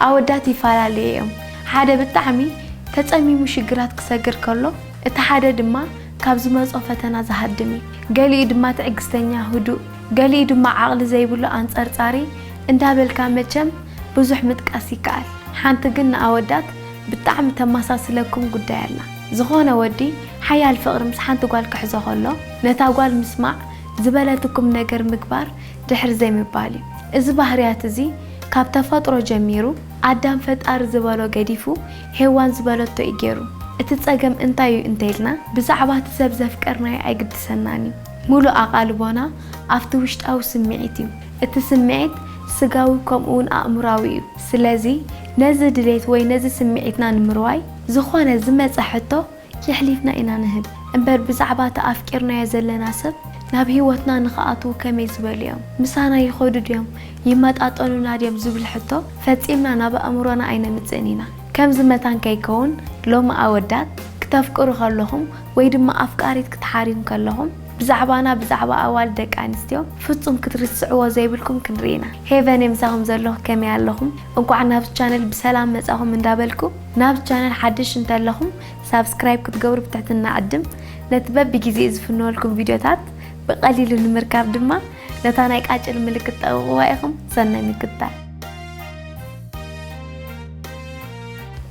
ኣወዳት ይፋላልየ እዮም ሓደ ብጣዕሚ ተጸሚሙ ሽግራት ክሰግር ከሎ እቲ ሓደ ድማ ካብ ዝመጾ ፈተና ዝሃድም እዩ ገሊኡ ድማ ትዕግስተኛ ህዱእ ገሊኡ ድማ ዓቅሊ ዘይብሉ ኣንጸርጻሪ እንዳበልካ መቸም ብዙሕ ምጥቃስ ይከኣል ሓንቲ ግን ንኣወዳት ብጣዕሚ ተማሳስለኩም ጉዳይ ኣላ ዝኮነ ወዲ ሓያል ፍቅሪ ምስ ሓንቲ ጓል ክሕዞ ከሎ ነታ ጓል ምስማዕ ዝበለትኩም ነገር ምግባር ድሕር ዘይምባል እዩ። እዚ ባህርያት እዚ ካብ ተፈጥሮ ጀሚሩ ኣዳም ፈጣሪ ዝበሎ ገዲፉ ሄዋን ዝበለቶ እዩ ጌሩ። እቲ ጸገም እንታይ እዩ እንተይልና ብዛዕባ እቲ ሰብ ዘፍቀርናዮ ኣይግድሰናን እዩ። ምሉእ ኣቓልቦና ኣብቲ ውሽጣዊ ስምዒት እዩ። እቲ ስምዒት ስጋዊ ከምኡ ውን ኣእምሮኣዊ እዩ። ስለዚ ነዚ ድሌት ወይ ነዚ ስምዒትና ንምርዋይ ዝኾነ ዝመጸ ሕቶ የሕሊፍና ኢና ንህብ እምበር ብዛዕባ እቲ ኣፍቂርናዮ ዘለና ሰብ ናብ ህይወትና ንኽኣትዉ ከመይ ዝበሉ እዮም? ምሳና ይኸዱ ድዮም? ይመጣጠኑና ድዮም? ዝብል ሕቶ ፈጺምና ናብ ኣእምሮና ኣይነምጽእን ኢና። ከምዚ መታን ከይከውን ሎሚ ኣወዳት ክተፍቅሩ ከለኹም ወይ ድማ ኣፍቃሪት ክትሓርዩን ከለኹም ብዛዕባና ብዛዕባ ኣዋልድ ደቂ ኣንስትዮ ፍጹም ክትርስዕዎ ዘይብልኩም ክንርኢ ኢና። ሄቨነይ ምሳኹም ዘለኹ ከመይ ኣለኹም? እንቋዕ ናብዚ ቻነል ብሰላም መጻኹም እንዳበልኩ፣ ናብዚ ቻነል ሓድሽ እንተለኹም ሳብስክራይብ ክትገብሩ ብትሕትና እዕድም። ነቲ በብጊዜኡ ዝፍነወልኩም ቪድዮታት ብቐሊሉ ንምርካብ ድማ ነታ ናይ ቃጭል ምልክት ጠቕቕዋ ኢኹም። ሰናይ ምክትታል።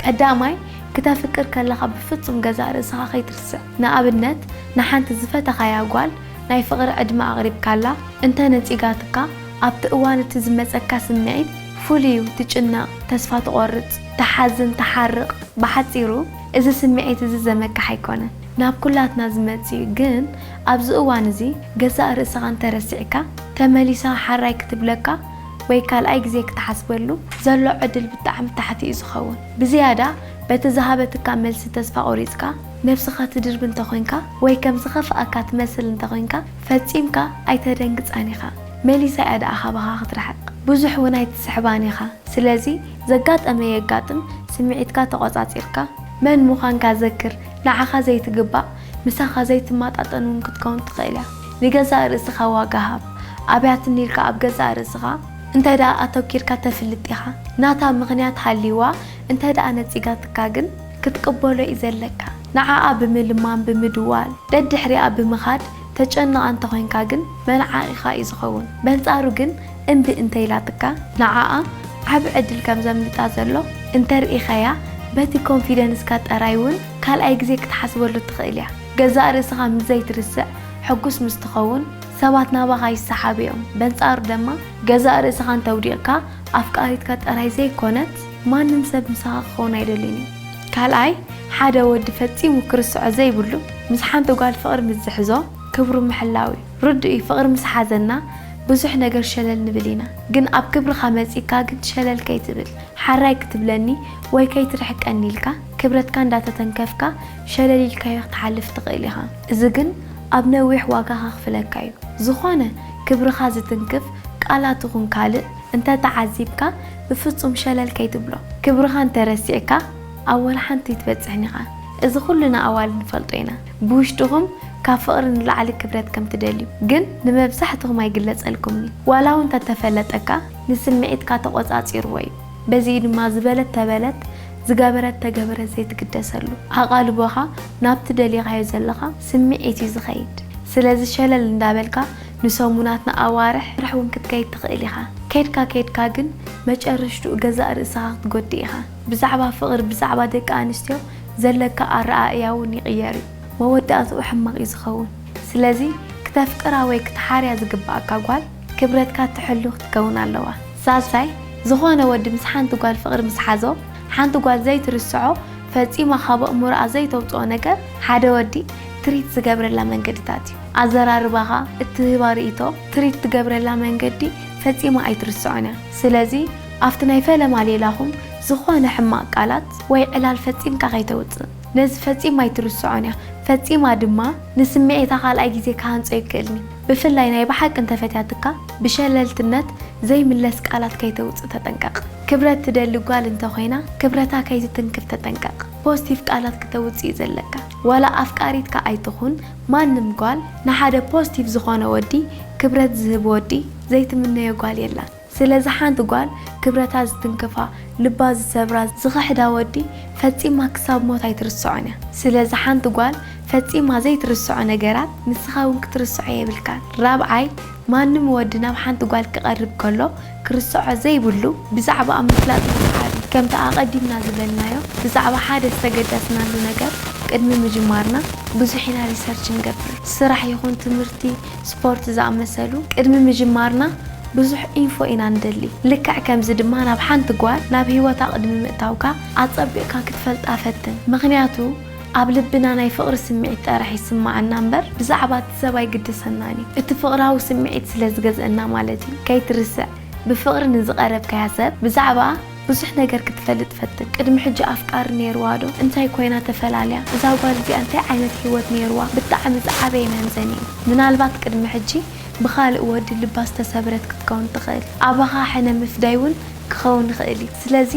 ቀዳማይ፣ ክተፍቅር ከለኻ ብፍጹም ገዛእ ርእስኻ ከይትርስዕ። ንኣብነት፣ ንሓንቲ ዝፈተኻያ ጓል ናይ ፍቕሪ ዕድመ ኣቕሪብካላ እንተ ነጺጋትካ፣ ኣብቲ እዋን እቲ ዝመጸካ ስምዒት ፍሉይ'ዩ፣ ትጭነቕ፣ ተስፋ ትቖርጽ። ትሓዝን ትሓርቕ ብሓጺሩ እዚ ስምዒት እዚ ዘመክሕ ኣይኮነን ናብ ኩላትና ዝመጽእ እዩ ግን ኣብዚ እዋን እዚ ገዛእ ርእስኻ እንተረሲዕካ ተመሊሳ ሓራይ ክትብለካ ወይ ካልኣይ ግዜ ክትሓስበሉ ዘሎ ዕድል ብጣዕሚ ታሕቲ እዩ ዝኸውን ብዝያዳ በቲ ዝሃበትካ መልሲ ተስፋ ቆሪጽካ ነብስኻ ትድርቢ እንተኾይንካ ወይ ከም ዝኸፍኣካ ትመስል እንተኾይንካ ፈጺምካ ኣይተደንግጻን ኢኻ መሊሳ እያ ድኣ ካባኻ ክትርሕቕ ብዙሕ ውን ኣይትስሕባን ኢኻ ስለዚ ዘጋጠመ የጋጥም ስምዒትካ ተቖጻጺርካ መን ምዃንካ ዘክር። ንዓኻ ዘይትግባእ ምሳኻ ዘይትማጣጠን ውን ክትከውን ትኽእል እያ። ንገዛእ ርእስኻ ዋጋ ሃብ። ኣብያትኒ ኢልካ ኣብ ገዛእ ርእስኻ። እንተድኣ ኣተኪርካ ተፍልጥ ኢኻ። ናታ ምኽንያት ሃልይዋ እንተድኣ ነጺጋትካ ግን። ክትቅበሎ እዩ ዘለካ። ንዓኣ ብምልማም ብምድዋል ደድሕሪኣ ብምኻድ ተጨንቕ ኣንተኾይንካ ግን መንዓቒኻ እዩ ዝኸውን። በንጻሩ ግን። እምቢ እንተኢላትካ ንዓኣ ዓቢ ዕድል ከም ዘምልጣ ዘሎ እንተርኢኻያ በቲ ኮንፊደንስካ ጠራይ ውን ካልኣይ ግዜ ክትሓስበሉ ትኽእል እያ። ገዛእ ርእስኻ ምስ ዘይትርስዕ ሕጉስ ምስ ትኸውን ሰባት ናባኻ ይሰሓቡ እዮም። በንጻሩ ደማ ገዛእ ርእስኻ እንተውዲቕካ ኣፍቃሪትካ ጠራይ ዘይኮነት ማንም ሰብ ምሳኻ ክኸውን ኣይደልን እዩ። ካልኣይ ሓደ ወዲ ፈጺሙ ክርስዖ ዘይብሉ ምስ ሓንቲ ጓል ፍቕሪ ምስ ዝሕዞ ክብሩ ምሕላው እዩ። ርዱእ እዩ ፍቅሪ ምስ ሓዘና ብዙሕ ነገር ሸለል ንብል ኢና ግን ኣብ ክብርካ መጺካ ግን ሸለል ከይትብል ሓራይ ክትብለኒ ወይ ከይትርሕቀኒ ኢልካ ክብረትካ እንዳ ተተንከፍካ ሸለል ኢልካዮ ክትሓልፍ ትክእል ኢካ እዚ ግን ኣብ ነዊሕ ዋጋ ከክፍለካ እዩ ዝኮነ ክብርካ ዝትንክፍ ቃላት ይኩን ካልእ እንተ ተዓዚብካ ብፍጹም ሸለል ከይትብሎ ክብርካ እንተ ረሲዕካ ኣብ ወላ ሓንቲ ኣይትበጽሕን ኢካ እዚ ኩሉና ኣዋልድ ንፈልጦ ኢና ብውሽጥኹም ካብ ፍቕሪ ንላዕሊ ክብረት ከም ትደልዩ ግን ንመብዛሕትኹም ኣይግለጸልኩምን እዩ። ዋላ እውን እንተ ተፈለጠካ ንስምዒትካ ተቖጻጺርዎ እዩ። በዚ እዩ ድማ ዝበለት ተበለት ዝገበረት ተገበረት ዘይትግደሰሉ። ኣቓልቦኻ ናብቲ ደሊኻዮ ዘለኻ ስምዒት እዩ ዝኸይድ። ስለዚ ሸለል እንዳበልካ ንሰሙናት ንኣዋርሕ እውን ክትከይድ ትኽእል ኢኻ። ከይድካ ከይድካ ግን መጨረሽትኡ ገዛእ ርእስኻ ክትጎድእ ኢኻ። ብዛዕባ ፍቕሪ ብዛዕባ ደቂ ኣንስትዮ ዘለካ ኣረኣእያ እውን ይቕየር እዩ። መወዳእትኡ ሕማቕ እዩ ዝኸውን። ስለዚ ክተፍቅራ ወይ ክትሓርያ ዝግበኣካ ጓል ክብረትካ ትሕሉ ክትከውን ኣለዋ። ሳልሳይ፣ ዝኾነ ወዲ ምስ ሓንቲ ጓል ፍቕሪ ምስ ሓዞ፣ ሓንቲ ጓል ዘይትርስዖ ፈጺማ ካብ ኣእምሮኣ ዘይተውጽኦ ነገር ሓደ ወዲ ትሪት ዝገብረላ መንገድታት እዩ። ኣዘራርባኻ፣ እትህባ ርእይቶ፣ ትሪት ትገብረላ መንገዲ ፈጺማ ኣይትርስዖን እያ። ስለዚ። ኣብቲ ናይ ፈለማ ሌላኹም ዝኾነ ሕማቕ ቃላት ወይ ዕላል ፈጺምካ ከይተውጽእ። ነዚ ፈጺማ ኣይትርስዖን እያ፣ ፈጺማ ድማ ንስምዒታ ካልኣይ ግዜ ክሃንጾ ይክእልኒ። ብፍላይ ናይ ብሓቂ እንተ ፈትያትካ ብሸለልትነት ዘይምለስ ቃላት ከይተውጽእ ተጠንቀቕ። ክብረት ትደሊ ጓል እንተ ኮይና ክብረታ ከይትትንክፍ ተጠንቀቕ። ፖስቲቭ ቃላት ክተውጽእ እዩ ዘለካ። ዋላ ኣፍቃሪትካ ኣይትኹን ማንም ጓል ንሓደ ፖስቲቭ ዝኾነ ወዲ ክብረት ዝህብ ወዲ ዘይትምነዮ ጓል የላን። ስለዚ ሓንቲ ጓል ክብረታ ዝትንክፋ፣ ልባ ዝሰብራ፣ ዝኽሕዳ ወዲ ፈጺማ ክሳብ ሞት ኣይትርስዖን እያ። ስለዚ ሓንቲ ጓል ፈጺማ ዘይትርስዖ ነገራት ንስኻ እውን ክትርስዖ የብልካን። ራብዓይ፣ ማንም ወዲ ናብ ሓንቲ ጓል ክቐርብ ከሎ ክርስዖ ዘይብሉ ብዛዕባኣ ምፍላጥ ይስዓብ እዩ። ከምቲ ኣቐዲምና ዝበልናዮ ብዛዕባ ሓደ ዝተገዳስናሉ ነገር ቅድሚ ምጅማርና ብዙሕ ኢና ሪሰርች ንገብር። ስራሕ ይኹን ትምህርቲ፣ ስፖርት ዝኣመሰሉ ቅድሚ ምጅማርና ብዙሕ ኢንፎ ኢና ንደሊ። ልክዕ ከምዚ ድማ ናብ ሓንቲ ጓል ናብ ህይወታ ቅድሚ ምእታውካ ኣጸቢቕካ ክትፈልጣ ፈትን። ምኽንያቱ ኣብ ልብና ናይ ፍቕሪ ስምዒት ጠራሕ ይስመዓና እምበር ብዛዕባ እቲ ሰብ ኣይግድሰናን እዩ። እቲ ፍቕራዊ ስምዒት ስለ ዝገዝኣና ማለት እዩ። ከይትርስዕ ብፍቕሪ ንዝቐረብካያ ሰብ ብዛዕባ። ብዙሕ ነገር ክትፈልጥ ፈትን ቅድሚ ሕጂ ኣፍቃሪ ኔርዋ ዶ እንታይ ኮይና ተፈላልያ እዛ ጓል እዚኣ እንታይ ዓይነት ሂወት ኔርዋ ብጣዕሚ ዝዓበየ መምዘኒ እዩ ምናልባት ቅድሚ ሕጂ ብካልእ ወዲ ልባ ዝተሰብረት ክትከውን ትክእል ኣባካ ሕነ ምፍዳይ ውን ክከውን ይክእል እዩ ስለዚ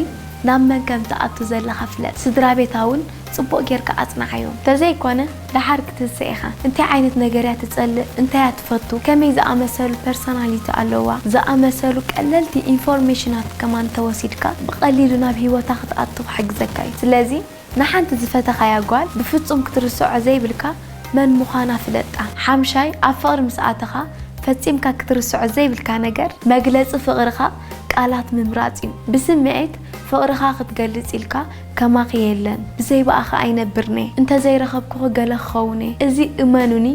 ናብ መን ከም ትኣቱ ዘለካ ፍለጥ ስድራቤታ ውን ጽቡቅ ጌርካ ኣጽንዓዮ ተዘይ ኮነ ደሓር ክትንሰ ኢኻ እንታይ ዓይነት ነገር እያ ትጸልእ እንታይ እያ ትፈቱ ከመይ ዝኣመሰሉ ፐርሰናሊቲ ኣለዋ ዝኣመሰሉ ቀለልቲ ኢንፎርሜሽናት ከማን ተወሲድካ ብቀሊሉ ናብ ሂወታ ክትኣቱ ክሕግዘካ እዩ ስለዚ ንሓንቲ ዝፈተኻያ ጓል ብፍጹም ክትርስዖ ዘይብልካ መን ምዃና ፍለጣ ሓምሻይ ኣብ ፍቅሪ ምስ ኣተኻ ፈጺምካ ክትርስዖ ዘይብልካ ነገር መግለጺ ፍቅርኻ ቃላት ምምራጽ እዩ ብስምዒት ፍቅርኻ ክትገልጽ ኢልካ ከማኺ የለን ብዘይ ብኣኺ ኣይነብርን'የ እንተዘይ ረኸብኩኺ ገለ ክኸውን'የ እዚ እመኑኒ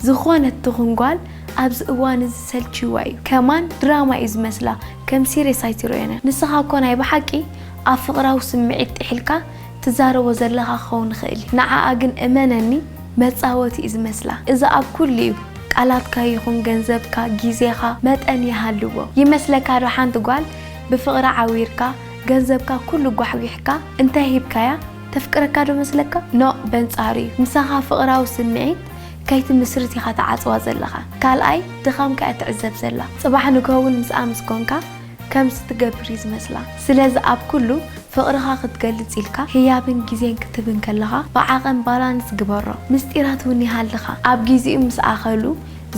ዝኾነት ትኹን ጓል ኣብዚ እዋን እዚ ሰልቺዋ እዩ ከማን ድራማ እዩ ዝመስላ ከም ሲርየስ ኣይትሪኦን'ያ ንስኻ እኮ ናይ ብሓቂ ኣብ ፍቕራዊ ስምዒት ጢሒልካ ትዛረቦ ዘለኻ ክኸውን ይኽእል'ዩ ንዓኣ ግን እመነኒ መጻወቲ እዩ ዝመስላ እዚ ኣብ ኩሉ እዩ ቃላትካ ይኹን ገንዘብካ ጊዜኻ መጠን ይሃልዎ ይመስለካ'ዶ ሓንቲ ጓል ብፍቕራ ዓዊርካ ገንዘብካ ኩሉ ጓሕጒሕካ እንታይ ሂብካያ ተፍቅረካ ዶ መስለካ ኖእ በንጻሩ እዩ ምሳኻ ፍቅራዊ ስምዒት ከይትምስርት ኢኻ ትዓጽዋ ዘለኻ ካልኣይ ድኻምካ እያ ትዕዘብ ዘላ ጽባሕ ንግሆ ውን ምስኣ ምስ ኮንካ ከምዚ ትገብር እዩ ዝመስላ ስለዚ ኣብ ኩሉ ፍቅርኻ ክትገልጽ ኢልካ ህያብን ግዜን ክትህብን ከለኻ ብዓቐን ባላንስ ግበሮ ምስጢራት ውን ይሃልኻ ኣብ ግዜኡ ምስ ኣኸሉ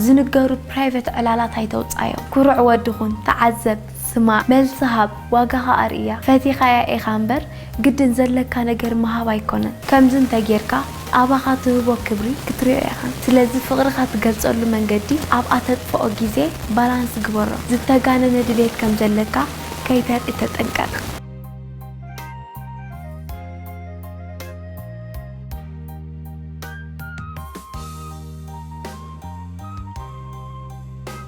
ዝንገሩ ፕራይቨት ዕላላት ኣይተውጻዮም ኩሩዕ ወዲ ኩን ተዓዘብ ስማዕ መልሲ ሃብ ዋጋኻ ኣርእያ ፈቲኻያ ኢኻ እምበር ግድን ዘለካ ነገር ምሃብ ኣይኮነን ከምዚ እንተ ጌርካ ኣባኻ ትህቦ ክብሪ ክትሪኦ ኢኻ ስለዚ ፍቅርኻ ትገልጸሉ መንገዲ ኣብ ኣተጥፍኦ ግዜ ባላንስ ግበሮ ዝተጋነነ ድሌት ከም ዘለካ ከይተርኢ ተጠንቀቅ።